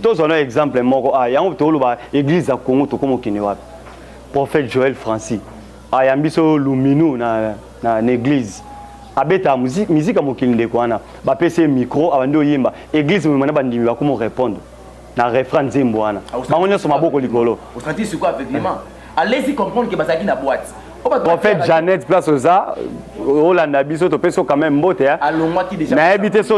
tozwa na exemple moko a yango toloba eglise ya congo tokoma okende wapi prophète joel francis ayambi so luminu na, na, na église abeta miziki ya mokili ndeko wana bapesi ye micro abandi oyemba église mema na bandimi bakoma orepondre na refrain nzembo wana bango nyonso maboko likolo A laisser comprendre que bazalaki na boîte. Prophète Janet place oza olanda biso topesi yo quand même mbote hein. alongwaki déjà nayebi te so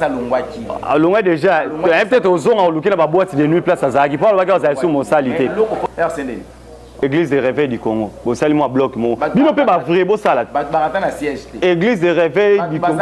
alongwaki alongwa déjà nayebi te tozonga oluki na baboite de nuit place azalaki mpo alobaki azali so mosali te église de réveil du congo bosali mwa bloc moko bino mpe bavrai bosala église de réveil du congo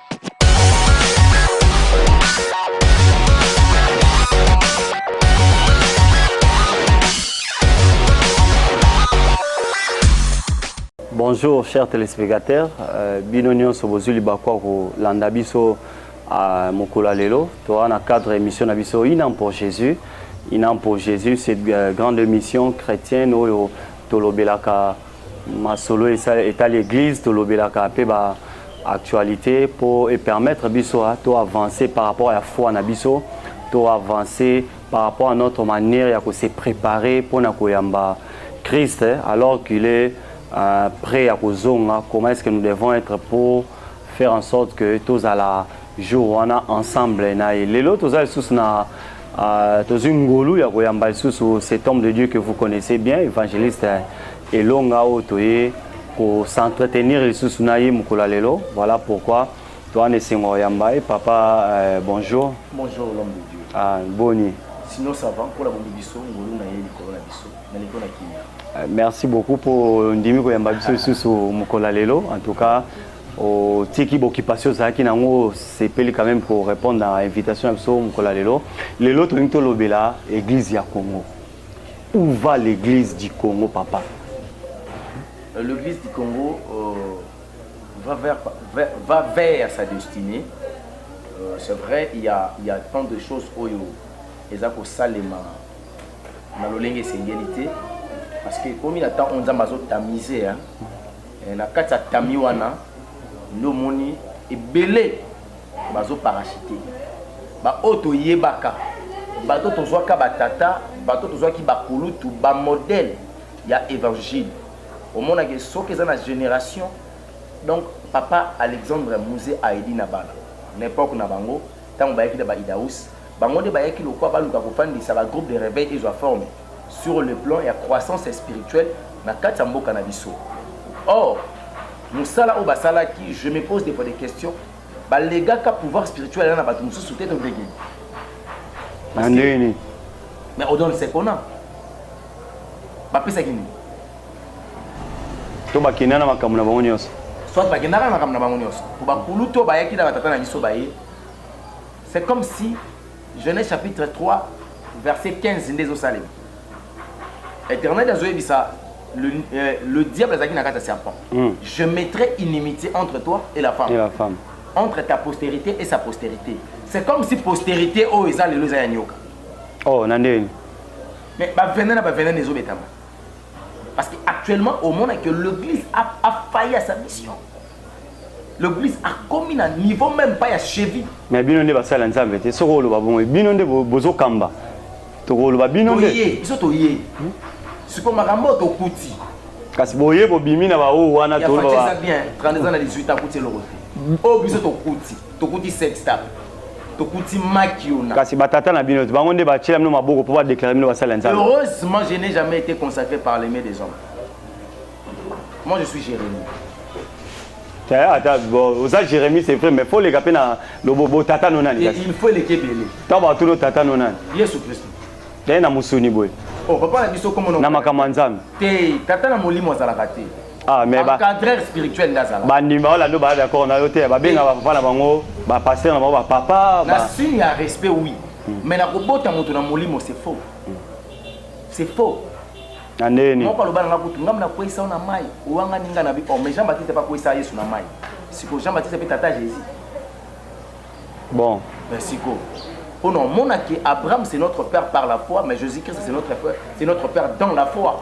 Bonjour chers téléspectateurs, euh, bino nyonso bozwi libaku ya kolanda biso euh, mokolo ya lelo toa na cadre émission na biso inam pour Jésus inam pour Jésus cette euh, grande émission chrétienne oyo tolobelaka Masolo etali eglise tolobelaka pe ba actualite po e permettre biso to avancer par rapport ya foi na biso, to avancer par rapport à notre manière ya ko se preparer pona koyamba Christ alors qu'il est pret ya kozonga, comment est-ce que nous devons etre po faire en sorte que tozala jour wana ensemble na ye. Lelo toza lisusu na Uh, tozwi ngolu ya koyamba lisusu cet homme de dieu que vous connaissez bien évangéliste elonga oyo toye kocentrtenir lisusu na ye mokolo ya lelo voilà pourquoi toa na esengo koyamba ye papa euh, bonjour bonjour l'homme de dieu ah, boni sinon ça va mpo na bombi biso ngolu na ye likolo na biso na likolo na kimia euh, merci beaucoup mpo ndimi koyamba biso lisusu mokolo ya lelo en tout cas otiki bokipasio ozalaki na yango osepeli quand même ko répondre na invitation ya biso mokolo ya lelo lelo tolingi tolobela église ya congo où va l'église du congo papa euh, l'église du congo euh, va, vers, va, va vers sa destinée euh, c'est vrai il y a, il y a tant de choses oyo eza kosalema na lolenge esengeli te parce que ekomi na temps oyo nzambe azotamise hein? Eh, na kati ya tamis wana nde omoni ebele bazo parachute baoyo toyebaka bato tozwaka batata bato tozwaki bakulutu bamodele ya évangile omonake soki eza na génération donc papa alexandre muse aedi na bana na epoke na bango ntango bayaki na baidaus Bango nde bayaki lokola baluka kofandisa ba groupes de reveil ezwa forme sur le plan ya croissance spirituelle na kati ya mboka na biso. Or, mosala oyo basalaki, je me pose des fois des questions, ba legaka pouvoir spirituel na batu mosusu te to ndenge nini? Na ndenge nini? Mais on donne ce qu'on a. Bapesaki nini? to bakenda na makambo na bango nyonso soit bakendaka na makambo na bango nyonso po bakulutu oyo bayaki na batata na biso baye C'est comme si Genèse chapitre 3 verset 15 nde ezosalema. Éternel azoyebisa le, euh, le diable azalaki na kati ya serpent. Mm. Je mettrai inimitié entre toi et la femme. Et la femme. Entre ta postérité et sa postérité. C'est comme si postérité oyo eza lelo eza ya nyoka. Oh, na ndenge. Mais ba venene na ba venene ezobetama. Parce que actuellement au monde que l'église a, a failli à sa mission. L'église a commis un niveau même pas à cheville. Mais bino nde basala nzambe te soko oloba bongo bino nde bozo kamba tokoloba bino nde toye biso toye hmm? siko makambo tokuti kasi boye bobimi na baoyo wana toloba bien 32 ans na 18 ans akuti eloko te oyo biso tokuti tokuti sextap tokuti makiona kasi batata na bino bango nde batyela bino maboko mpo badeklare bino basali ya nzambe heureusement je n'ai jamais été consacré par les mains des hommes moi je suis jérémie ata oza jérémie c'est vrai mais fo oleka mpe na lobobo tata no nani il faut eleka ebele ntango batuni tata no nani yesu kristo yaye na mosuni boye oh, na makambo ya nzambe te tata na molimo azalaka te Ah, mais ba, encadreur spirituel nde azala bandimba olando baya d'accord na yo te babenga bapapa na bango bapaster na bango bapapa na ba- signe ya respect oui mais na kobota moto na molimo c'est faux c'est faux na ndenge nini moko aloba na nga kutu ngambo na kweyisa yo na mai owanga ninga na bi oh, mais jean baptiste pa kweyisa yesu na mai siko jean baptiste mpe tata ya jésus bon mais siko mpo na omona ke abraham c'est notre père par la foi mais jésus christ c'est notre, frère- c'est notre père dans la foi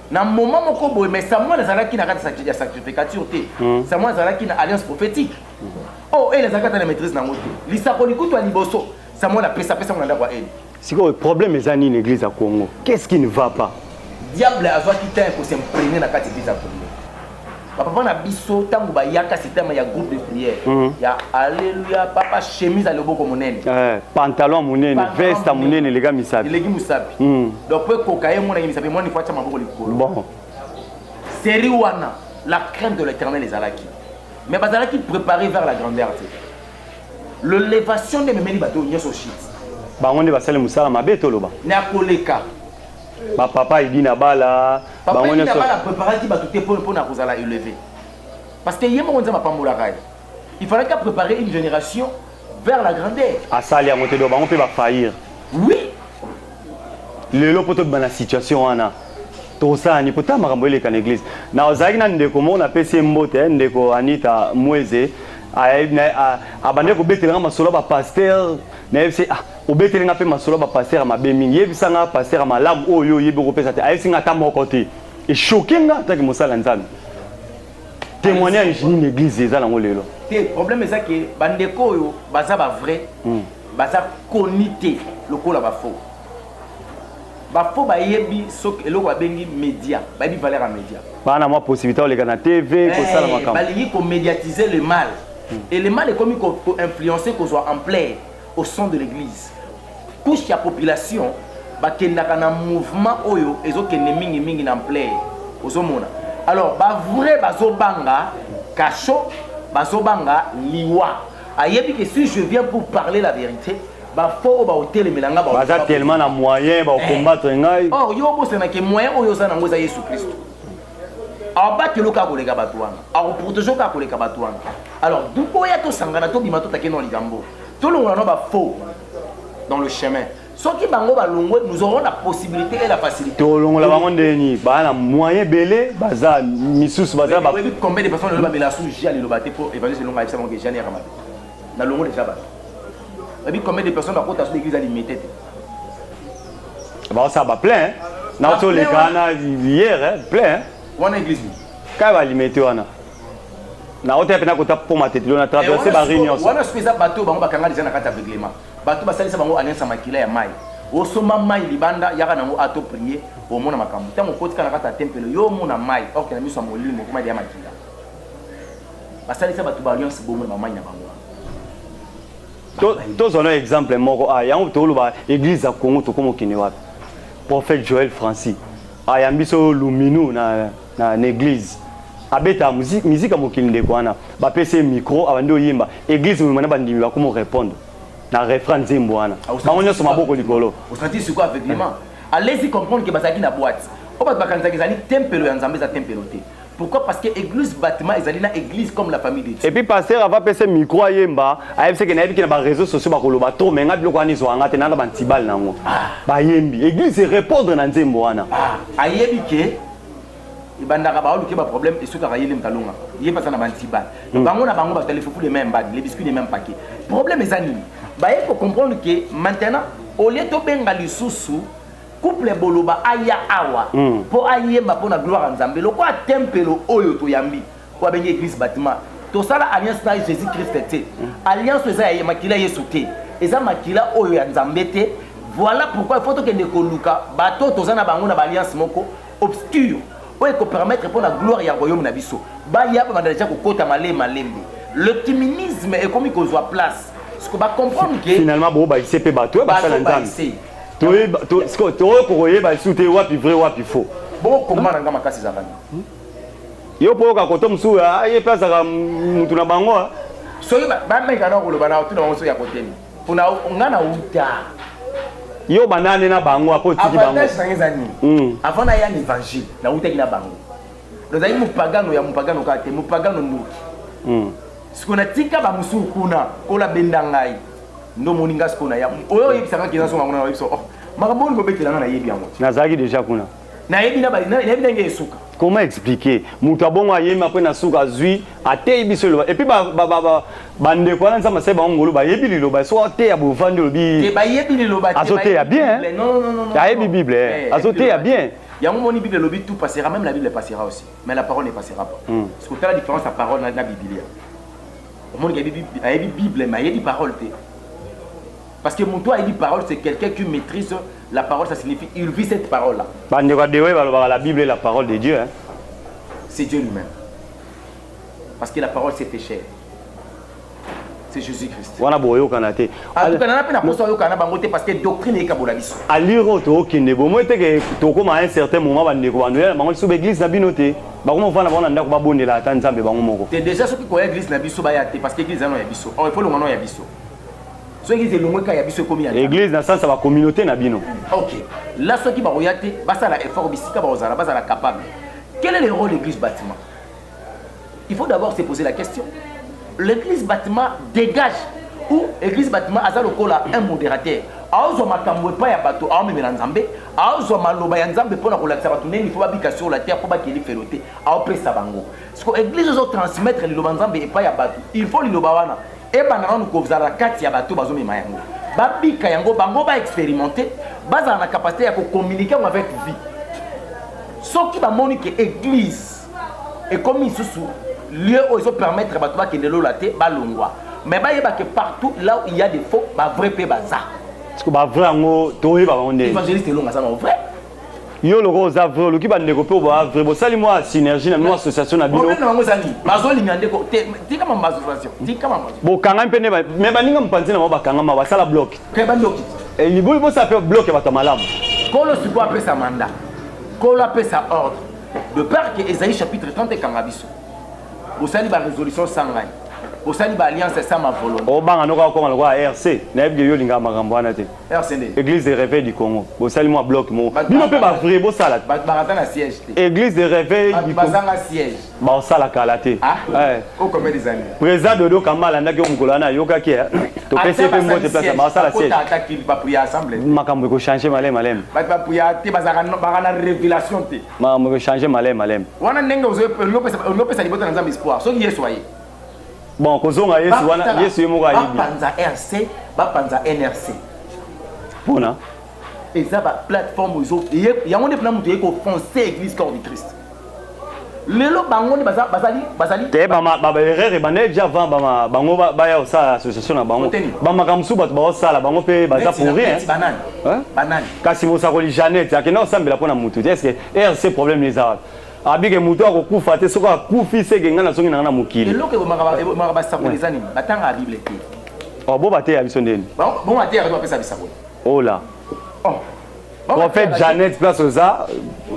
Na moment moko boye, mais Samuel azalaki na kati ya sacrificature te. Hmm. Samuel azalaki na alliance prophétique. Hmm. Oh, elle azalaki na maîtrise na ngote. Lisako likutu ya liboso, Samuel apesa pesa mwana ndako ya elle. Sikoyo problème eza nini église ya Congo? Qu'est-ce qui ne va pas? Diable azwaki temps ya ko s'imprégner na kati ya église ya Congo. ba papa na biso ntango bayaka système ya groupe de prière mm. ya alleluia papa chemise ya loboko monene eh, pantalon monene veste monene eleka misapi eleki mosapi mm. donc mpo ekoka ye monaki misapi mwana ifo atya maboko likolo bon. série wana la crainte de l'éternel ezalaki mais bazalaki préparé vers la grandeur te l'elevation nde ememeli bato nyonso shit bango nde basali mosala mabe toloba na koleka ba papa edi na bala papa edi na bala préparaki bato te mpo na kozala élevé parce que ye moko nzambe apambolaka ye il fallaki apréparer une génération vers la grandeur asali yango te do bango mpe bafaillir oui lelo mpo tobima na situation wana tokosala nini mpota makambo eleka na église na ozalaki na ndeko moko napesi ye mbote eh, ndeko anita mweze abandaki kobetelanga masolo ya bapaster nayebisi ah Obeteli nga pe masolo ya ba pasteur ya mabe mingi. Yebisa nga pasteur ya malamu oyo yo oyebi okopesa te. Ayebisi nga ata moko te. E choquer nga en tant que mosali ya Nzambe. Temoignage nini eglise eza nango lelo? Te, problème eza que ba ndeko oyo baza ba vrai, baza connu te lokola ba faux. Ba faux bayebi soki eloko babengi media, bayebi valeur ya media. Baza na mwa possibilite ya koleka na TV, kosala makambo. Balingi ko mediatiser le mal. Et le mal ekomi ko influencer kozwa ampleur. au son de l'eglise couche ya population bakendaka na mouvement oyo ezokende mingimingi na ampleur ozomona alors bavrai bazobanga kasho bazobanga liwa ayebi ke si je viens pour parler la vérité bafo oyo baotelemela ngai baza tellement na moyen baokombattre eh. ngai or oh, yo obosanake moyen oyo oza nango eza yesu kristo abateloki kaka koleka bato wana akoproteje kaka koleka bato wana alors boya tosangana tobima totake no likambo tolongola no bafaux dans le chemin soki bango balongwe nous aurons la possibilité et la facilité tolongola bango ndenge nini baa na moyen ebele baza misusu baza ba combien de personnes loba mela sous jali loba te po évangile longa ayebisa bango ke jali ya kamabe na longo deja bato ebi combien de personnes bakota sous l'église alimete te baosala ba plein na oto oleka wana hier plein wana église kaka balimete wana na oteya mpena kota mpo matetelo na traverse bari nyonso wana soki eza bato bango bakanga deja na kati ya reglement bato basalisa bango alliance ya makila ya mai osomba mai libanda yaka nango ato prie omona makambo ntango okotika na kati ya tempelo yo omona mai orke na miso ya molimo okoma deya makila basalisa bato ba alliance bongo na bamai na bango tozwa na exemple moko a yango toloba eglise ya congo tokoma okende wapi prophète joel francis ayambi so luminu na, na, na eglise abeta miziki ya mokili ndeko wana bapesi ye micro abandi oyemba eglise mobima na bandimi bakomi orépondre na refrain nzembo wana ah, bango nyonso maboko likolo alesi comprendre ke bazalaki na boite oyo bato bakanisaki ezali tempelo ya nzambe eza tempelo te Pourquoi parce que eglise batiment ezali na eglise comme la famille de Dieu. Et puis pasteur ava pese micro ayemba ayebi seke nayebi ke na ba réseaux sociaux bakoloba trop mais nga biloko wana ezwa nga te nana ba ntibal nango ah. bayembi eglise répondre na nzembo wana ah. ayebi ke ebandaka baoluke ba problème esukaka ye lem kalonga ye pasa na ba ntibal hmm. bango na bango bato ya lefufu de même mbadi le biscuit de même paquet problème eza nini baye ko comprendre ke maintenant au lieu tobenga lisusu Couple boloba aya awa po ayemba pona gloire ya nzambe lokola tempelo oyo toyambi oyo abengi eglise batiment tosala alliance na jesus christ te alliance oyo eza ya makila ya yesu te eza makila oyo ya nzambe te voila pourquoi il faut tokende koluka bato oyo toza na bango na ba alliance moko obscure oyo ekopermettre pona gloire ya royaume na biso baya babanda deja kokota male malembe le kiminisme ekomi kozwa place siko ba comprendre que finalement bobakise pe bato oyo basala nzambe tokoki koyeba lisusu te wapi vrai wapi faux bokoma na nga makasi ezalaka nini yo mpo oyoka koto mosusu ah, ye mpe azalaka motu na bango ah. soki bameka na koloba na otuna bango soki ya koteni mpona nga na uta yo banane na bango apo otiki bangoavantage nange eza nini hmm. avant naya na évangile nautaki na bango nazali mopagano ya mopagano kaka te mopagano ndoki hmm. sikoyo natika bamosusu kuna kola benda ngai ndo moni nga siko na ya oyo oyebisa nga kina songa kuna oyebisa oh makambo oyo kobetela nga nayebi yango te nazalaki deja kuna nayebi na nayebi ndenge esuka comment expliquer moto abongo ayemi apres na suka azwi ateyi biso eloba epuis bandeko wana nzambe asali bango ngolu bayebi liloba soki ateya bovandi olobi azoteya bien ayebi bible eh, azoteya bien yango moni bible elobi tout passera même la bible passera aussi mais la parole ne passera pas hmm. soki otala différence ya parole na biblia Omoni ayebi ayebi Bible mais ayebi parole te. Parce que mutu ayebi parole c'est quelqu'un qui maîtrise la parole ça signifie il vit cette parole là. Ba ndeko ya Dewe balobaka la Bible est la parole de Dieu hein. C'est Dieu lui-même. Parce que la parole s'est fait chair. C'est Jésus-Christ. Wana boyokana te. Atukana na pe na poso ayokana na bango te parce que doctrine ekabola biso. Aliro to okende bomoi te ke tokoma à un certain moment ba ndeko ba ndoya na bango lisusu ba église na bino te. bakoma vana bango na ndako babondela ata nzambe bango moko te deja soki koya eglise na biso baya te parce que eglise ano ya biso or ifo longa no ya biso so eglise elongwe ka ya biso ekomi ya eglise na sansa ba communauté na bino ok la soki bakoya te basala effort bisika bakozala bazala capable quel est le rôle l'église bâtiment il faut d'abord se poser la question l'église bâtiment dégage ou église bâtiment aza lokola un modérateur aozwa makambo epai ya bato aomemela nzambe azwa maloba ya nzambe mpo na kolakisa bato ndenge ifo babika sur la terre mpo bakie lifelo te aopesa bango siko eglise ezo transmettre liloba nzambe epai ya bato il faut liloba wana ebanda nanu kozala kati ya bato bazomema yango babika yango bango baexperimente bazala na capacité ya kokommunike yango avec vie soki bamoni ke eglise ekomi lisusu lieu oyo ezopermettre bato bakende lola te balongwa mais bayeba ke partout là il y a des faux bavrai mpe baza siko ba vrai yango toyeba bango nde evangeliste elonga aza na vrai yo loko oza vrai oluki bandeko mpe oboa vrai bosali mwa synergie na bino association na bino bokangami mpe nde me baninga mopanzi na bango bakangama basala blok eh, libuli bosala mpe blok ya bato ya malamu kolo sikoyo apesa manda kolo apesa ordre de part ke ezali chapitre 30 ekanga biso bosali ba resolution sans ngai bosali ba alliance sans ma volonté obanga noka okoma lokola rc nayebi ke yo olingaka makambo wana te rc nde église de réveil du congo bosali mwa bloc moko bino mpe bavrai bosala te bato bakata na siège te église de réveil bato bazanga siège baosala kala te ah? eh. oh, président dodo kamba alandaki yo mokolo wana ayokaki eh? topesi ye mpe mbote place baosala siège makambo ekochange maleme maleme bato bapuya te bazalaka na révélation te Makambo eko changer malem malem. Wana ndenge ozo lopesa libota na Nzambe espoir soki Yesu aye. Bon kozonga Yesu wana Yesu ye moko ayebi. Ba panza RC, ba panza NRC. Pona eza ba plateforme ezo yango nde pona moto ye ko foncer église corps du Christ. lelo bango nde bazali bazali te baerreur ebandaki deja avant bango baya kosala association na bango bamakambo mosusu bato baosala bango mpe baza pourri banani kasi mosakoli Jeannette akenda kosambela mpo na motu te eske erc problème ne eza wapi abike moto akokufa te soki akufi seke ngai nazongi na ngai na mokili eloko ebomaka basakoli eza nini batangaka bible te oh, bo bateya biso ndeni bo bateya bato bapesa bisakoli ola oh. prophète Jeannette place oza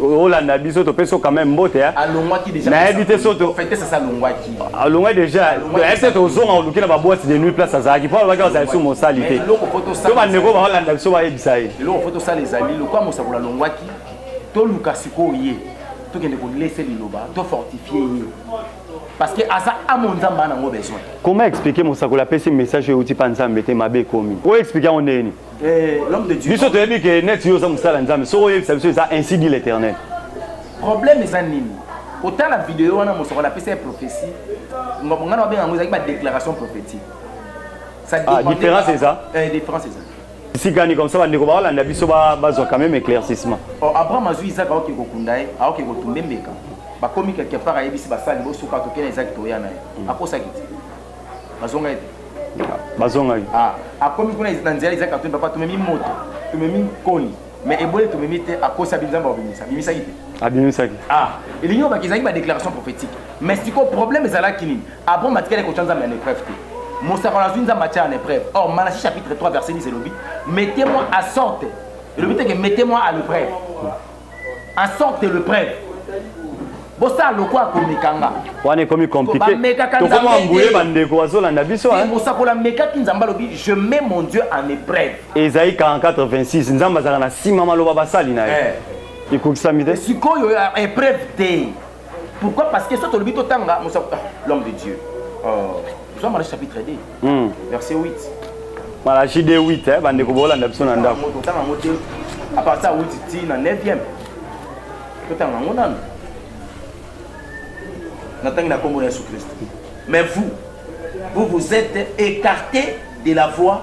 olanda biso topesi yo quand même mbote ya alongwaki déjà nayebi te soto fete sasa alongwaki alongwa déjà ayebi te tozonga oluki na baboite de nuit place azalaki mpo alobaki azali so mosali te to bandeko baolanda biso bayebisa ye eloko fo tosala ezali lokwa mosakola alongwaki toluka sikoyo ye tokende kolese liloba tofortifie ye parce que aza amo nzambe ana yango besoin comment expliquer mosakoli apesi message oyo euti mpa nzambe te mabe ekomi oyo explique yango ndenge nini Eh, biso toyebi ke neti yo oza mosala nzambe soki oyebisa biso eza ainsi dit l'éternel problème eza nini kotala video wana mosoko napesa ye prophétie ngana babenga yango ezalaki badéclaration prophétique ah, différence eza eh, différence eza sikani comme ça bandeko baolanda biso bazwa quand même éclaircissement oh, abraham azwi isaac aoke kokunda ye aoke kotumba embeka bakomi quelque part ayebisi basali bosuka tokena isaac toya na ye mm. akosaki te bazongaki bazongaki ah, akomi kuna na nzela ezaki katuni papa tomemi moto tomemi nkoni me eboli tomemi te akosa bi nzambe abimisa abimisaki te abimisaki ah elingi obaki ezalaki badéclaration prophétique mais sikoyo problème ezalaki nini abon batikali kotya nzambe ya l'épreuve te mosakolo azwi nzambe atya en épreuve or malachi chapitre 3 verset 10 elobi mettez-moi à sorte elobi te ke mettez-moi à l'épreuve en sorte de le preuve bosala lokola komekanga wana ekomi compliqué tokoma mbuye bandeko bazolanda biso mosakola amekaki nzambe alobi je mets mon dieu en épreuve ezali 4426 nzambe azalaka na nsima maloba basali na ye eh. ekokisami te sikoyo épreuve te Pourquoi Parce que soit tolobi to tanga musa ah, l'homme de Dieu. Oh, nous sommes chapitre 2. Hmm. Verset 8. Malachie 2 8 hein, bande ko bolanda biso na ndako. Moto tanga mote. À partir 8 ti na 9e. To tanga ngo nanu. Na tangi na kombo na Yesu Christ. Mais vous vous vous êtes écarté de la voie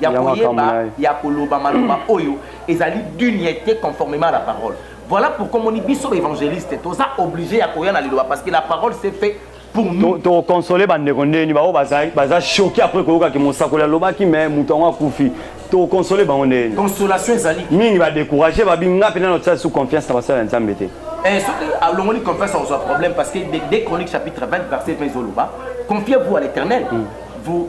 ya koyeba ya koloba maloba oyo ezali duniete conformement à la parole voilà pourquoi omoni biso baevangeliste toza oblige ya koya na liloba parce que la parole s'est fait tokonsole bandeko ndeni baoyo baza choke apres koyokaki mosakoli alobaki me moto yango akufi tokonsole bango ndeni consolation ezali mingi badécourage babi nga mpe nano tya su confiance na basala ya nzambe te eh, soki alongoli ah, confiance akozwa problème parce que de chronique chapitre 20 verset 20 ezoloba confiez vous à l'éternel mm. vous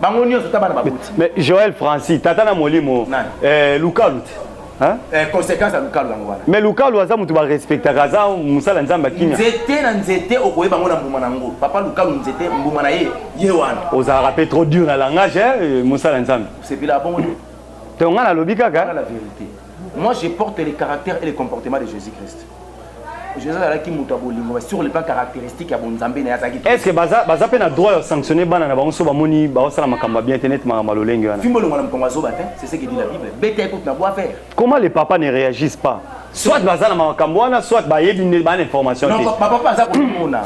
bango nyonso ta bana baboti mais joel francis tata na molimo eh, lukalu te Eh, conséquence ya lukalu yango wana mais lukalu aza moto barespectaka aza mosala nzambe akimia nzete na nzete okoyeba yango na mbuma na yango papa lukalu nzete mbuma na ye ye wana ozalaka mpe trop dur na langage eh, mosala nzambe osepela abongo te to ngai nalobi kaka la vérité moi je porte le caractère et le comportement de jésus christ jesus azalaki moto ya bolingo mais sur le plan caractéristique ya bonzambe na ye azalaki est ce que baza baza mpe na droit ya sanctionner bana na bango so bamoni baosala makambo ya bien te neti makambo ya lolenge wana fimbo elongo na mokongo azoba te c'est ce que dit la bible beta ekoti na bois vert comment les papas ne réagissent pas soit baza na makambo wana soit bayebi nde bana information te bapapa aza komona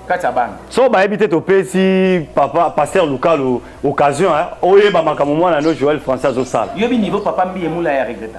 kati ya bana so bayebi te topesi papa paster lukalo occasion oyeba makambo mwana no joel français azosala yoyebi niveau papa mbiye mula ya regreta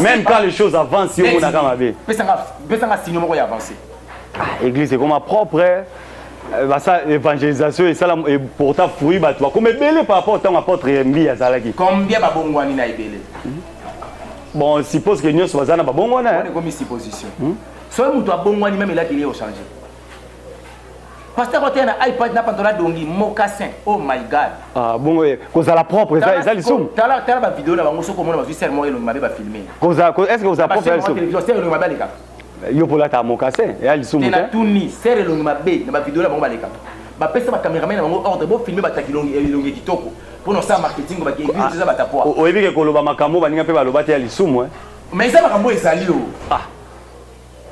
Même quand les choses avancent, yo monaka mabe. Pesanga pesanga signe moko ya avancer. Ah, église ekoma propre. Eh. Euh, basa évangélisation esala eporta fruit bato bakoma ebele par rapport ntango apôtre mbi azalaki combien babongwani na ebele hmm? bon suppose que nyonso baza na babongwana ekomi supposition hmm? soki moto abongwani meme elakeli ye ochange Pasteur kote na iPad na pantola dongi mocassin. Oh my god. Ah bongo ye kozala propre eza eza lisumu. Tala tala ba vidéo na bango soko mona bazui sel moko elongi mabe ba filmer. Koza ko est-ce que kozala propre eza lisumu. Télévision sel elongi mabe aleka. Yo pola ta mocassin ya lisumu te. Na tuni sel elongi mabe na ba vidéo na bango baleka. Ba pesa ba cameraman na bango ordre bo filmer ba takilongi elongi kitoko. Pona sa marketing ba ke église ah, eza ba tapwa. Oyebi ke koloba makambo baninga pe baloba te ya lisumu eh. Mais eza makambo ezali yo. Oh. Ah.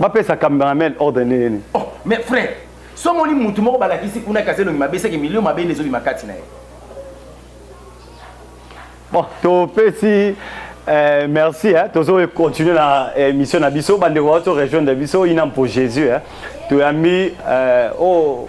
bapesa cameraman ordre ndenge nini oh, mais frère somoni mutu moko balakisi kuna kasi elongi mabe seke milio mabe nde ezobima kati na ye bon topesi Eh, merci eh. tozo continuer na eh, émission na biso bandeko bato rejoindre biso ina mpo jésus eh. toyambi eh, oyo oh,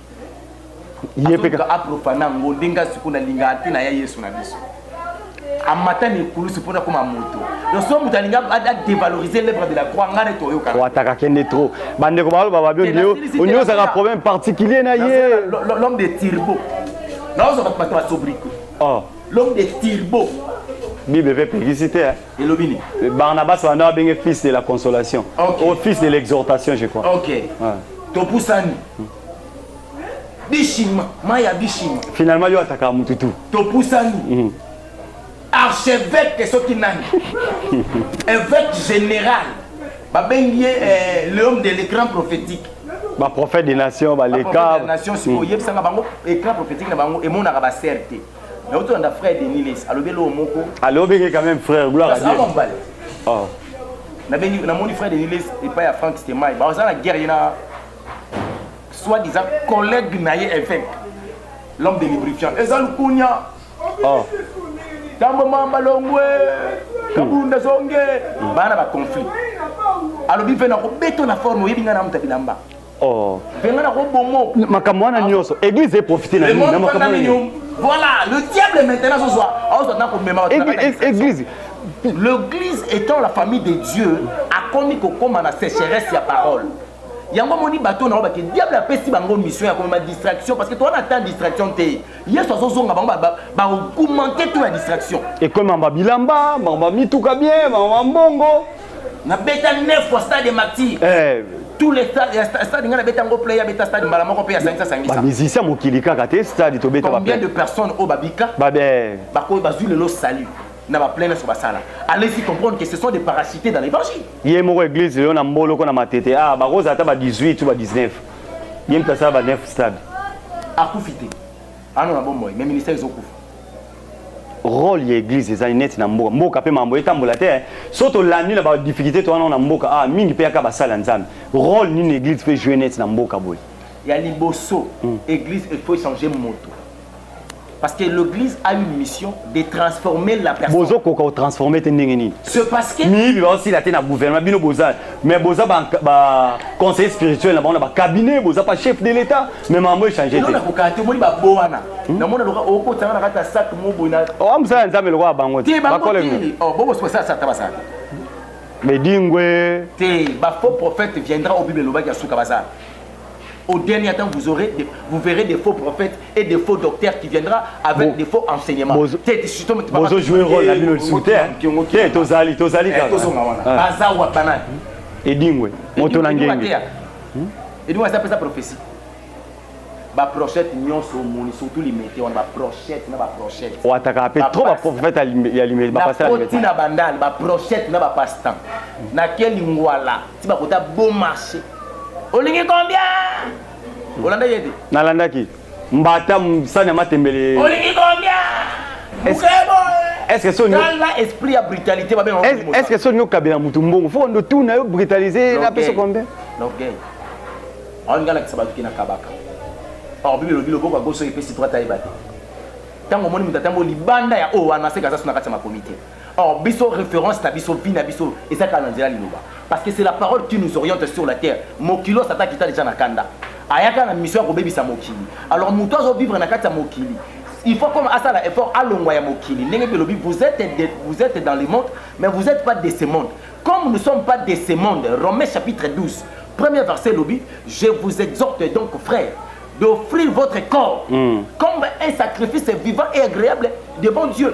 ye mpe kaka aprofana yango ndenge nga sikoyo nalingaka te na ya yesu na biso amata na ekulusu mpo nakoma moto loso moto alingi adevalorize lèvre de la croix ngai nde toyokaataka kende trop bandeko baloba babio onyozaka problème particulier na ye l'homme de tirbo naozo bato bato basobriko oh. l'homme de tirbo bible mpe epekisi te elobi nini le barnabas wana abenge fils de la consolation okay. au fils de l'exhortation je crois ok ouais. topusani bishima mai ya bishima finalement yo ataka motu tu topusani mm. archevêque soki nani évêque général babengi ye eh, l'homme de l'écran prophétique baprophète des nations baleka nation sikoyebisaka mm. bango écran prophétique na bango emonaka basere te Mais autant da frère Denis Les, alobi lo moko. Alobi que quand même frère gloire à Dieu. Ça va Oh. Na beni na moni frère Denis Les et pas ya Frank Stemay. Ba ozana guerre ina soit disant collègue na ye évêque. L'homme de lubrifiant. Eza lukunya. Oh. Tambo mamba longwe. Kabunda zonge. Bana ba conflit. Alobi pe na ko beto na forme oyebi nga na muta bilamba. Oh. Mpe nga nako bomo. Makambo wana nyonso, église e profiter na nini? Na makambo wana nyonso. Voilà, le diable maintenant azozwa, azozwa na komema. Église, L'église étant la famille de Dieu, akomi kokoma na sécheresse ya parole. yango omoni bato na bango bake diable apesi bango mission ya komema distraction parce que towana ata distraction te yesu azozonga bango baokumente to ya distraction ekomema bilamba bango bamituka bien bango bambongo na beta 9 fois stade martyr eh. tous les stade nga na beta ngo play abeta stade mbala moko pe ya sangisa sangisa ba musicien mokili kaka te stade to beta ba combien de personnes au babika ba be ba ko ba zui lelo salut na ba plaine sur basala allez-y comprendre que ce sont des parachutés dans l'évangile ye moko église yo na mbolo ko na matete ah ba rosa ata ba 18 ou ba 19 ye mtasala ba 9 stade akufite Ano na bomoi mais ministère ezo kufa. Rôle ya église ezali neti na mboka. Mboka pe mambo etambola te. So to landi na ba difficultés to wana na mboka ah mingi pe yaka basali ya Nzambe. Rôle nini église pe jouer neti na mboka boye? Ya liboso mm. église il faut changer moto. Parce que l'église a une mission de transformer la personne. Bozo koka transformer te ndenge nini? C'est parce que miyibi ba osila te na gouvernement bino bozali mais boza ba, ba conseiller spirituel na bango na ba cabinet boza pas chef de l'état mais mambo échange te nakokaa te omoni babo wana hmm? namona loka okotanga na kati ya sak moboyi na oa oh, mosala ya nzambe lokola bango te bakolenge oh, bobosobasalasata basala bedingwe te bafaux prophète viendra o bible elobaki ya suka baza Au dernier temps, vous, aurez des, vous verrez des faux prophètes et des faux docteurs qui viendra avec bon. des faux enseignements. Bozo jouer rôle la bino souté. Te tozali tozali kaka. Baza wa banani? Edingwe. Moto na ngenge. Edingwe aza pesa prophétie. Ba prophète nyonso moni surtout limete wana ba prophète na ba prophète. Wataka ape trop ba prophète ya limete ba pasteur limete. Na bandal ba prophète na ba pasteur. Na quel ngwala ti bakota bon marché olingi combien olandaki ete nalandaki mbata msani ya matembele olingi combien mukebo est-ce que soni la esprit ya brutalité babenga est-ce que soni okabela mutu mbongo fo ndo tu na yo brutaliser na peso combien donc gay on ngala kisa batu kina kabaka or bibi lobi loboko goso epesi droite ayeba te tango moni mutatamboli banda ya o wana seka zasu na kati ya makomi te Or biso reference na biso vie na biso eza kaka na nzela liloba parce que c'est la parole qui nous oriente sur la terre mokilos ata kita deja na kanda ayaka na mission ya kobebisa mokili alors moto azo vivre na kati ya mokili il faut comme asala effort alongwa ya mokili ndenge mpe lobi vous êtes, de, vous êtes dans le monde mais vous êtes pas de ce monde comme nous sommes pas de ce monde romains chapitre 12 premier verset lobi je vous exhorte donc frère d'offrir votre corps mm. comme un sacrifice vivant et agréable devant dieu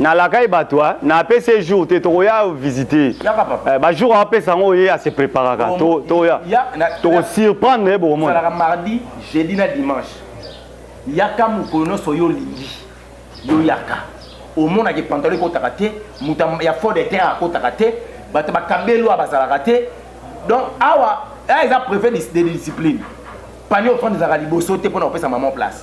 na lakai bato hein. na apesi ye jour te tokoya visite Yaka papa. Eh, ba jour apesa yango ye ase preparaka Tomo- to- toya Ya- na- toko surprendre ye bokomona ezalaka mardi jeudi na dimanche yaka mokolo nyonso yo olingi yo yaka omonaka pantalon ekotaka te moto ya- ya fort de terre akotaka te bato bakabeli oyo bazalaka te donc awa awa eza prefet de discipline pani ofandi ezalaka liboso te mpo na kopesa maman place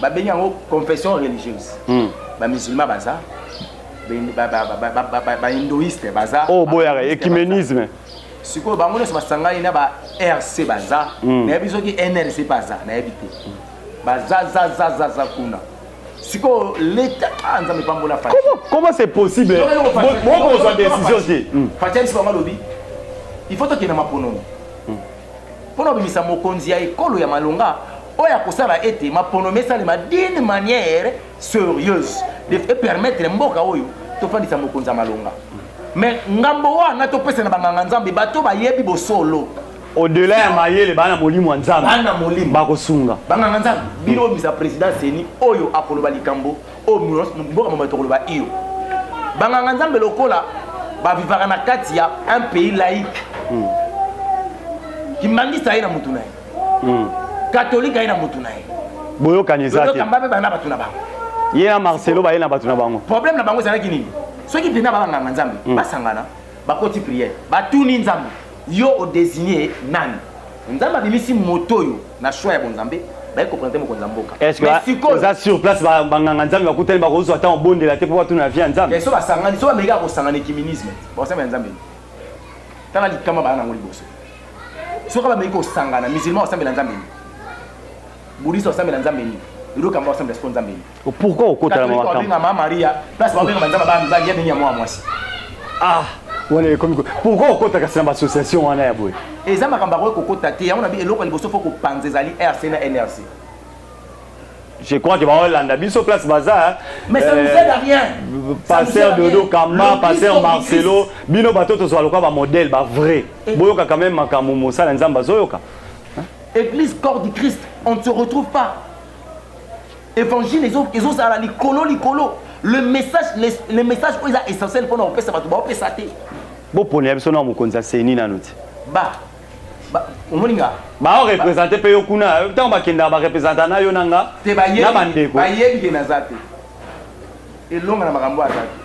babengi yango confession religieuse hmm. bamusulman baza bahindoiste baza oyo oh, boyaka ecumenisme sikoyo bango nyonso basangani na ba rc baza hmm. nayebi soki nrc baza nayebi te baza zazazaza kuna sikoyo leta ah, nzambe pambola comment c'est possible bokozwa décision te hmm. fatialisi bango alobi il faut tokende maponomi mpo na kobimisa mokonzi ya ekolo ya malonga oyo akosala ete maponomi esalema d'une manière serieuse epermettre mboka oyo tofandisa mokonzi ya malonga mais ngambo wana topesa na banganga nzambe bato bayebi bosolo au-delà ya mayele bana molimo ya nzambe bana molimo bakosunga banganga nzambe bino obimisa président seni oyo akoloba likambo Oyo munos mboka mobimba tokoloba iyo. Banganga Nzambe lokola bavivaka na kati ya un pays laïque. Mm. Kimbangista ye na mutu na ye. Mm. Katolika ye na mutu na ye. Boyokani eza te. Lolo kamba pe bana batu na bango. Ye na Marcelo baye na batu na bango. Problème na bango ezalaki nini? Soki pena banganga Nzambe mm. basangana Bakoti prière, batuni Nzambe, yo o designe nani? Nzambe abimisi moto oyo na choix ya bonzambe, baye ko presenter mokonzi ya mboka. Est-ce que Mais sikoyo, oza sur place ba ba nganga Nzambe bakutani bakozwa temps obondela te mpo batuna na vie ya Nzambe? mais so basangani, so bameki ya kosangana ecumenisme, bakosambela Nzambe nini? Tala likama baya na yango liboso. Soki kaka bameki kosangana, musulman bakosambela Nzambe nini? Buddhiste bakosambela Nzambe nini? Lelo kamba bakosambela sikoyo Nzambe nini? Pourquoi okota na makambo? Babenga mama Maria, place babenga banzaba ba mibali ya bengi ya mwa mwasi. Ah, wana ekomi ko. Pourquoi okota kasi na ba association wana ya boye? Eza makambo akoki kokota te. Yango na bi eloko liboso faut kopanza ezali RC na NRC. Je crois que baolanda biso place baza. Mais ça nous euh, aide à rien. Pasteur Dodo Kama, pasteur Marcelo, bino bato tozwa lokola ba modèle ba vrai. Boyoka quand même makambo mosala nzamba zoyoka. Église corps du Christ, on ne se retrouve pas. Evangile ezo ezo zala likolo likolo. Le message le, le message oyo eza essentiel pona kopesa bato ba opesa te. Bo pona ya biso na mokonzi ya seni nanu te. Ba ba omoni nga bao represente mpe yo kuna ntango bakendaka barepresenta na yo na nga te bayebi na bandeko bayebi ke naza te elonga na makambo aza te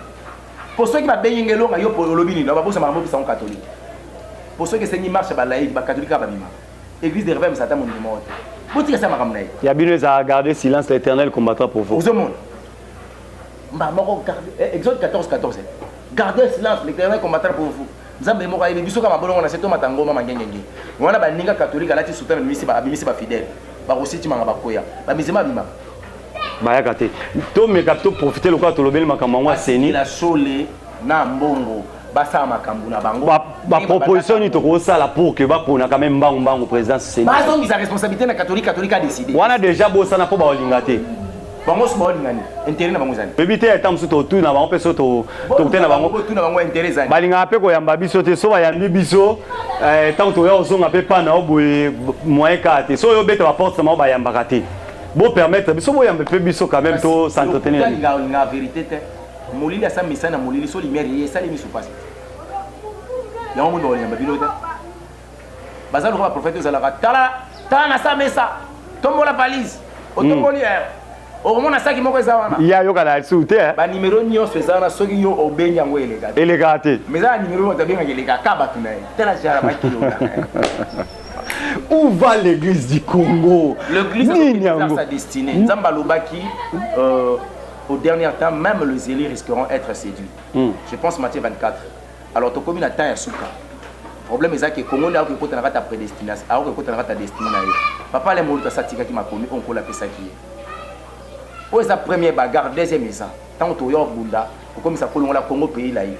mpo soki babengi nga elonga yo mpo olobi nini babosa makambo opesa ngo katolike mpo soki esengi marche ya balaiki bakatolike kaka babimaka Eglise de Reveil Satan mondimi moko te. Botika sa makambo na ye. Ya bino eza garder silence l'éternel combattant pour vous. Ozo mona. Mba moko garder eh, Exode 14 14. Garder silence l'éternel combattant pour vous. Nzambe moko ayebi biso kama bolongo na se tomata ngoma mangengenge. Wana baninga katolika alati suta na misi ba abimisi ba fidèle. Ba kositi manga bakoya. Ba mizima bima. Bayaka te. To meka to profiter lokola tolobeli makambo yango aseni. La sole na mbongo. basala makambo na bango baproposition nini tokosala pour que bapona quand même mbangu mbangu présidence seni bazongisa responsabilité na catholique catholique adécide wana déjà bosana mpo baolinga te bango so baolinga nini intérêt na bango ezali oyebi te ata mosusu totuni na bango mpe so tokutani na bango botuni na bango intérêt ezali balingaka mpe koyamba biso te so bayambi biso ntango eh, toya kozonga mpe pana o boye moyen kaka te so oyo obeta baporte na bango bayambaka te bopermettre biso boyambe mpe biso quand même to s'entretenir Molili asa mesa na molili so lumière eye esali misu pasi te. Yango moni bakolemba bino te. Baza lokola prophète ozalaka tala tala na sa mesa tombola valise otomboli eh. okomona saki moko eza wana ya yoka na su te eh. banimero nyonso eza wana soki yo obengi yango eleka te eleka te mais eza na nimero moto abengaka eleka ka bato na ye tala jara bakilo où va l'église du congo nini yango nzambe alobaki euh, Au dernière temps meme le zeli risqueront etre seduit mm. je pense Matthieu 24 alors tokomi na temps ya suka problème eza ke Congo nde akoki kota na kati ya prédestination akoki kota na kati ya destiné na ye papa le moluka satikaki makomi oyo nkola apesaki ye oyo eza premier bagarre deuxième eza ntango toya obunda kokomisa kolongola Congo pays laïque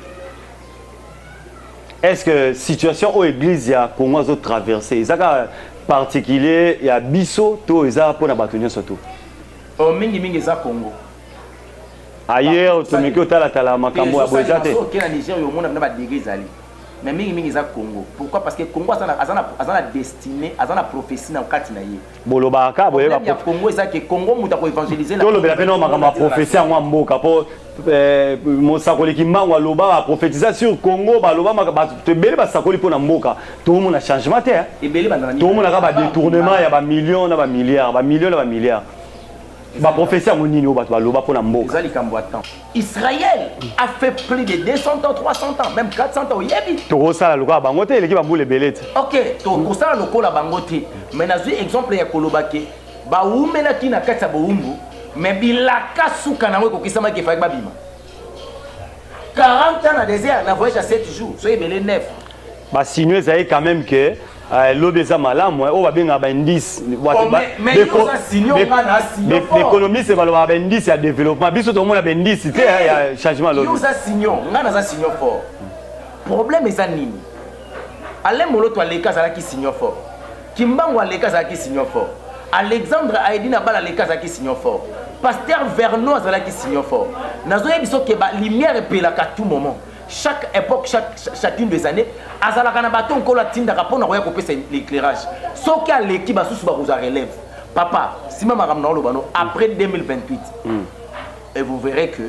est-ce que situation oyo église ya Congo azo traverser ezaka particulier ya biso to eza mpona bato nyonso tout Oh mingi mingi eza Congo. Ailleurs tomeki otala tala makambo ya boye eza te. Oke na Niger yo omona bina ba dege ezali. Mais mingi mingi eza Congo. Pourquoi? Parce que Congo aza na aza na aza na destinée, aza na prophétie na kati na ye. Bolobaka boyeba Congo eza ke Congo muta ko évangéliser na. Tolobela pe na makambo ya prophétie yango ya mboka po Eh, mosakoli kimbangu aloba baprofetiza sur congo baloba bato ebele basakoli mpo na mboka tokomona changement te tokomonaka badetournement ya bamillion na bamilliard bamillion na bamilliard baprofesi yango nini oyo bato baloba mpo na mboka eza likambo ya temps israël a fait plus de 200 ans 300 ans même 400 ans oyebi tokosala lokola bango te eleki bambula ebele te ok tokosala lokola bango te mais nazwi exemple ya koloba ke Bawumelaki na kati ya bowumbu, mais bilaka suka nango ekokisamaki, efalaki babima. 40 ans na desert, na voyage ya 7 jours, soki ebele 9. Ba signaux ezali quand même que euh, lobi eza malamu eh, oyo babengaka baindice oh, baekonomiste balobaka baindice ya développement biso tokomona baindice te eh, ya changement lobi oza signon ngai naza signon fort problème eza nini alain moloto aleki azalaki signon fort Kimbangu aleka azalaki signon fort. Alexandre Aedi na bala aleka azalaki signon fort. Pasteur Vernon azalaki signon fort. Nazo yebiso ke ba lumière epelaka tout moment. Chaque époque, chaque, chacune des années, azalaka na baton nkolo atindaka mpo na koya kopesa l'éclairage. Soki aleki basusu bakozwa relève. Papa, sima makambo na oloba no après 2028. Mm. Et vous verrez que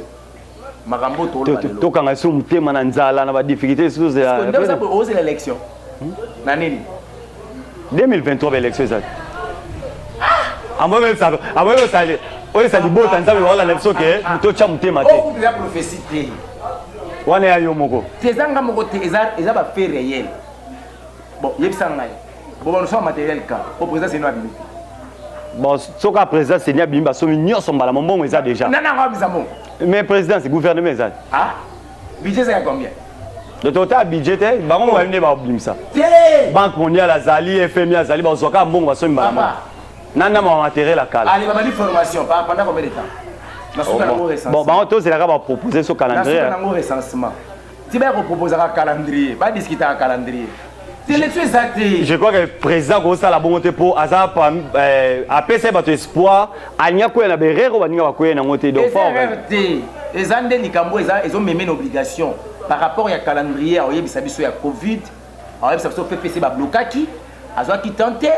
makambo oyo toloba lelo tokanga lisusu motema na nzala na badifficulté lisusu ozela élection hmm? na nini 2023 baélection ezali amoyosali oyesa libota nzambe baolanda biso ke ah, ah. totya motema te oh, wana ya yo moko te ezanga moko te eza bafe réel Bon, yebisa ngai. Bon, nous sommes matériel ka. Au président c'est nous abimi. Bon, soki a président c'est ni abimi ba somi nyoso mbala mombongo eza déjà. Non non, ngabisa mo. Mais président c'est gouvernement eza. Ah? Budget c'est combien? donc ota budget te bango mobali nde babimisa banque mondiale azali fmi azali bazwa kaka mbongo basomi mbala moko nani na mawa materiel ya kala bon bango tozelaka bapropose so calendrier ti baya koproposaka calendrier badiskitaka calendrier telection eza te je crois que président kosala bongo te mpo aza euh, apesa ye bato espoir alingi akwea na berere oyo baninga bakwei nango te donc te eza nde likambo eza ezomeme na obligation par rapport ya calendrier aoyebisa biso ya covid aoyebisa biso ppc bablokaki azwaki temps te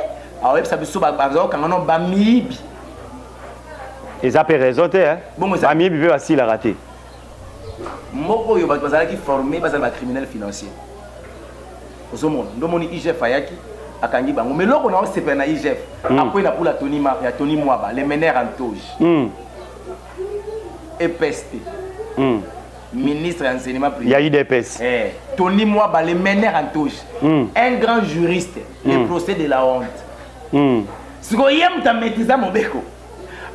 aoyebisa biso bazokanga no bamiyibi eza mpe raison te bamiyibi mpe basilaka te mboka oyo bato bazalaki forme bazali ba criminel financier ozomona ndo moni igf ayaki akangi bango mais loko na osepela na igf mm. apres na pula toni ya toni mwaba le mener en toge mm. epeste mm. ministre ya enseignement privé ya idps eh, toni mwaba le mener en toge mm. un grand juriste mm. le procès de la honte mm. sikoyo ye moto ametiza mobeko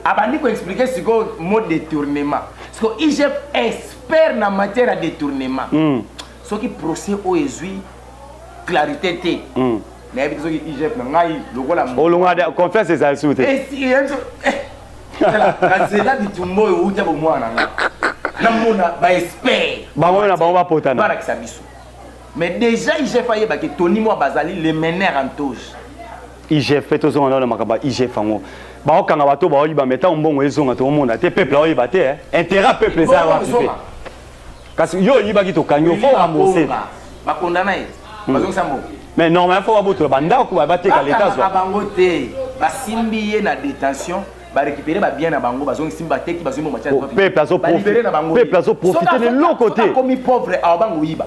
abandi ko expliquer sikoyo mot détournement siko igf expert na matière ya détournement mm. soki procès oyo ezwi clarité te mm. nayebi te soki igf na ngai lokola olonga confiance ezali su te nazela bitumba oyo outa bomwana nga namona baexpert bango na bango bapotana balakisa biso mais déjà igf ayebaki toni mwa bazali le mener en toge IGF pe tozonga nao na makambo ya IGF yango baokanga bato baoyiba me ntango mbongo ezonga toomona te peuple aoyeba te eh. intérêt ya peuple eza ya wapi pe kasi yo oyibaki tokangi yo fo rambourse bakondana ye hmm. bazongisa mbongo mais normalement fo babotola bandako bateka leta azwa bango te basimbi ye na détention barécupere babien na bango bazongisi bateki bazwi mbongo matyapeple azoprofite na bango peuple azoprofite na eloko te akomi pauvre awa bango oyiba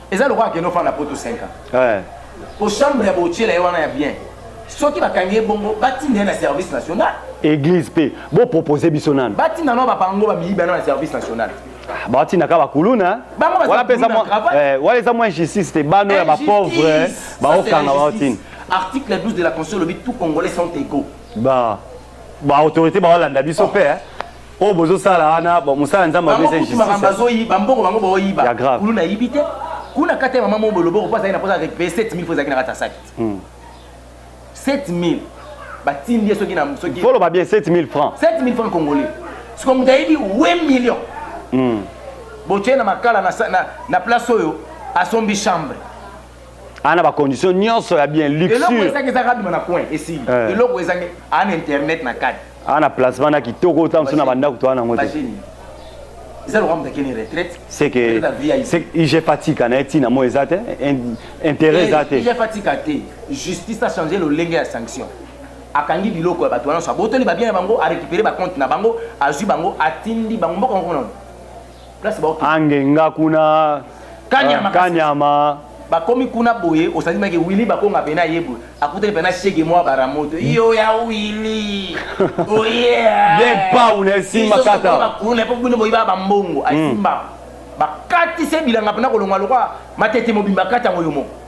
eza lokola akende ofanda poto 5 ans eh. po chambre ya botyela ye wana ya bien soki bakangi ye bongo batinda ye na service national église mpe bopropose biso nanu batinda no babango bamiyiba no na service national ah, batinda kaka bakuluna eh, wana eza mwa injustice te bano ya bapauvre baokanga baotinda article 12 de la constitution olobi tout congolais sont égaux ba baautorité baolanda biso mpe oh. oyo bozosala wana mosala nzambe apesa justice bazoyi bambongo bango baoyiba ya grave kuluna ayibi te kuna kati ya mama moko boloboko mpo azalaki na mposa repaye 7000 mpo ezalaki na kati ya saki 7000 batindi ye soki na soki foloba bien 7000 francs 7000 francs congolais siko moto ayebi 8 million hmm. botye na makala na, na, na place oyo asombi chambre ana ba condition nyonso ya bien luxure eloko ezangi eza kaka bima na coin esi eh. eloko ezangi ana internet na kati ana placement na kitoko ota msu na bandako to ana yango te eza lokola moto akende retraite seke ige fatika na ye ntina mo eza te intérêt eza te ige fatika te justice achange lolenge ya sanction akangi biloko ya bato wana nyonso abotoli babien na bango arécupere bacompte na bango azwi bango atindi bango mboka moko nano angenga kuna kanyama, uh, kanyama. bakomi kuna boye osali maki wili bakonga pene ayebwe akutaki pene shege mwa baramoto yo ya wili oyebepau na esimba katauna po bino boyiba bambongo asimba hmm. bakati se bilanga mpena kolonga lokwa matete mobimba kati yango yo moko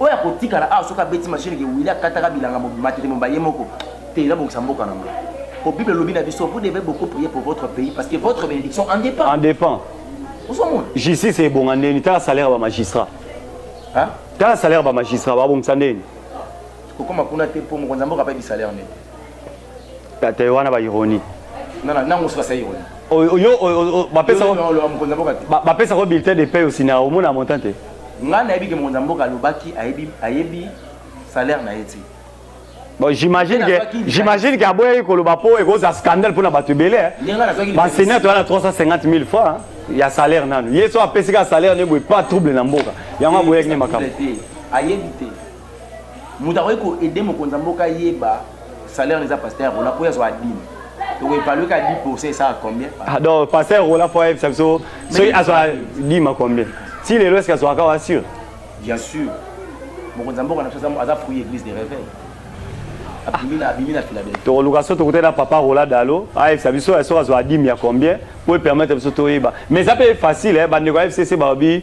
Oyo akotikala awa soki abeti machine ke Willy akataka bilanga mobima te mobimba ye moko te eza bongisa mboka na nga. Po Bible lobi na biso vous devez beaucoup prier pour votre pays parce que votre bénédiction en dépend. En dépend. Osomona. Justice ebonga ndeni tala salaire ba magistrat. Hein? Tala salaire ba magistrat ba bongisa ndeni. Kokoma kuna te po mokonzi mboka pa bi salaire ndeni. Tata wana ba ironie. Nana nango soka sa ironie. Oyo yo bapesa bapesa ko bulletin de paie aussi na omona montant te. Nga nayebi ke mokonzi mboka alobaki ayebi ayebi salaire na ye ti. Bon, j'imagine que j'imagine que aboyaki koloba po ekozala scandale pona bato ebele. Hein. Ba senior toyana 350 000 francs. Hein. ya salaire nanu ye so apesi kaka salaire nde boye pa trouble na mboka yango aboyaki nde makambo ayebi te moto akoki ko aider mokonzi ya mboka ayeba salaire neza pasteur rola mpo yazwa adime tokoevalue ka 10 pourcent esaka combien ah, donc pasteur rola mpo ayebisa biso soki azwa dima combien ti lelo eske azwaka kaka sur bien sûr mokonzi ya mboka na biso aza fruit église de réveil tokoluka so tokutana papa rola dalo ayebisa biso ya soki azwa dime ya combien mpo epermettre biso toyeba mais eza mpe facile bandeko ya fcc balobi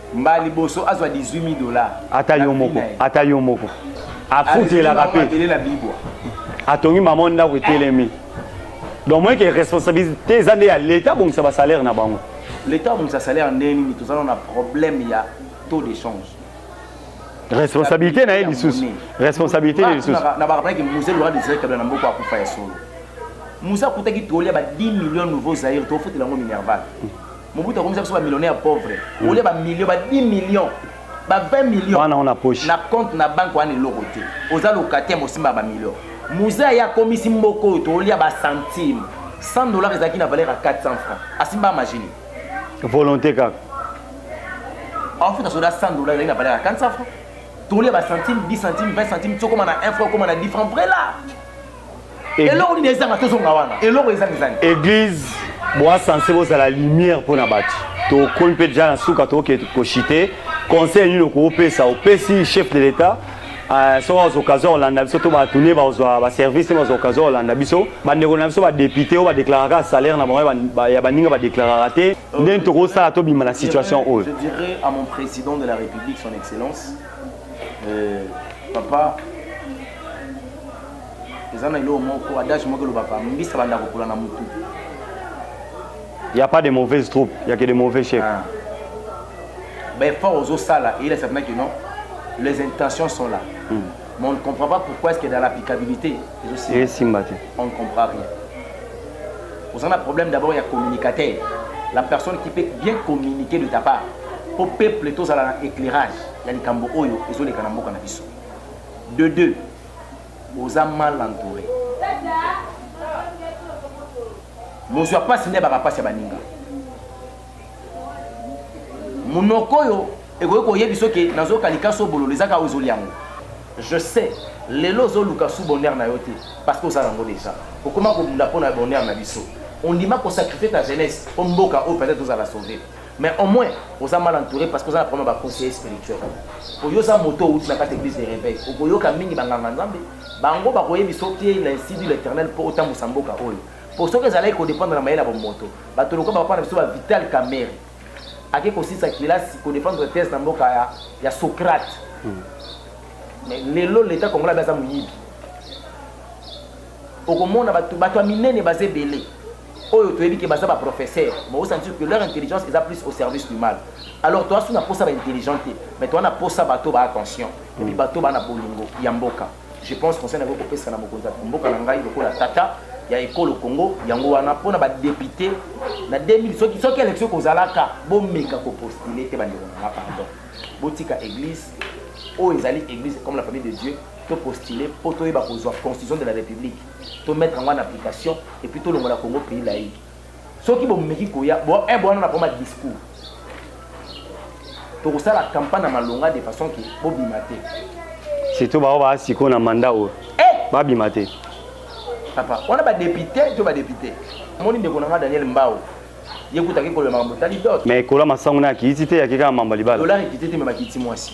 Mbala liboso azwa 18000 dollars. Ata yo moko, ata yo moko. Afutelaka pe. Atongi mama ndako etelemi. Donc moi que responsabilité eza nde ya l'État bongisa ba salaire na bango. L'État bongisa salaire ndenge nini tozana na problème ya taux d'échange. Responsabilité na ye lisusu. Responsabilité na lisusu. Na ba rappelaki Moussa Lora des Kabila na mboko akufa ya solo. Moussa kutaki toli ya ba 10 millions nouveaux Zaire to fotela ngo Minerval. Mobutu akomisa biso ba millionnaire pauvre. Mm. Olia ba millions, ba 10 millions, ba 20 millions. Wana on a poche. Na compte na banque wana eloko te. Oza locataire mosimba ba millions. Muza ya komisi mboko oyo tolia ba centimes. 100 dollars ezalaki na valeur ya 400 francs. Asimba majini. Volonté kaka. Afuta soda 100 dollars ezalaki na valeur ya 400 francs. Tolia ba centimes, 10 centimes, 20 centimes, tokoma na 1 franc, okoma na 10 francs. Vrai là. eloko nini ezanga tozonga wana eloko ezanga ezani église boa sense bozala lumière mpo na bato tokomi mpe deja na suka tookee koshite conseil nini okopesa opesi chef de l'état euh, soki bazwa occasion kolanda biso to bato nde bazwa baservice nde bazwa occasion kolanda biso bandeko na biso badepute oyo badeklaraka salaire na bango ya baninga badeklaraka te ndeni tokosala tobima na situation oyo je dirais à mon président de la république son excellence euh, papa eza na eloko moko adage moko elobaka mbisi abanda kopola na motu ya pas de mauvaise troupe ya ke de mauvais chef ah. baeffort ozosala eyelesa mpena kino les intentions sont là hmm. mais on ne comprend pas pourquoi est-ce que dans l'applicabilité ezosimba te on ne comprend rien oza na problème d'abord ya communicateur la personne qui peut bien communiquer de ta part mpo peuple tozala na éclairage ya likambo oyo ezoleka na mboka na biso de deux Oza mal entoure. Mozwa pasi nde abaka pasi ya baninga. Munoko oyo ekoki koyebisa oke nazoka likasu obololo eza kaka ozoli yango. Je sais lelo ozoluka sous bonheur na yo te parce que oza nango dejà. Okoma kobunda mpo na bonheur na biso. Ondima ko sacrifier ta jeunesse mpo mboka oyo peut-etre tozala sauver. Mais au moins oza mal entouré parce que oza na problème ya ba conseillers spirituels. Po yo oza moto owuti na kati ya eglise de reveil. Okoyoka mingi ba nganga nzambe. Bango bakoyebisa yo que l'insidu l'eternel po otambusa mboka oyo. Po soki ezalaki ko dependre na mayele ya bomoto, bato lokola ba papa na biso ba Vital Kamerhe ake kosilisa kelasi ko defendre thèse na mboka ya, ya Socrate. Mais lelo l'etat congolais abe aza moyibi. Okomona batu batu ya minene baza ebele oyo toyebi ke baza ba professeurs mais o sentir que leur intelligence eza plus au service du mal alors toa su na posa ba intelligents te mais toa na posa batu ba attention et puis batu ba na bolingo ya mboka je pense conseil na ko kopesa na mokonzi ya mboka na ngai lokola tata ya ekolo Congo yango wana pona ba depute na 2000 soki soki election kozalaka bomeka ko postuler te bandeko na nga pardon botika eglise oyo ezali eglise comme la famille de Dieu to postuler po toyeba kozwa constitution de la republique to mettre yango en application et puis tolongola congo pays laïque soki bomeki koya eh, bowana na poma discours tokosala campagne na malonga de façon ke bobima te surtout bao baa sikoyo na manda oyo eh! babima te papa wana badepute to badepute omoni ndeko na nga daniel mbao ye kutaki koloba makambo tali dot mais ekola masango na akiti te yaki kaka mamba libala dolar ekiti te me bakiti mwasi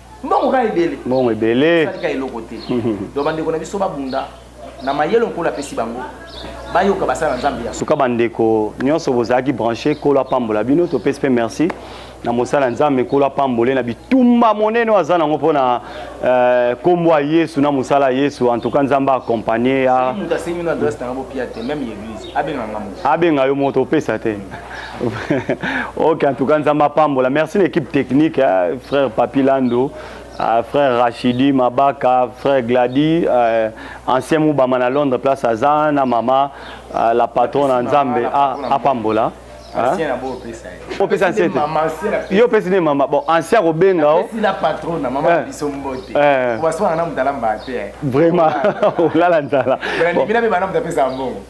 mbongo kaka ebele mbongo ebele salika eloko te donc bandeko na biso babunda na mayele nkolo apesi bango bayoka basala nzambe ya suka bandeko nyonso bozalaki branche nkolo apambola bino topesi mpe merci na mosala nzambe nkolo apambole na bitumba monene aza nango mpo na eh, nkombo ya yesu na mosala ya yesu en tout cas nzambe akompagne abenga yo moto opesa te ok, en tout cas, Nzamba Pambola. Merci l'équipe technique, hein, frère Papi Lando, euh, frère Rachidi Mabaka, frère Glady, euh, ancien Moubama à Londres, place à Zana, maman, euh, la patronne en Nzambe, à, à Pambola. opesa nse te yo opesi nde mama bon ansi akobenga o vraiment olala nzala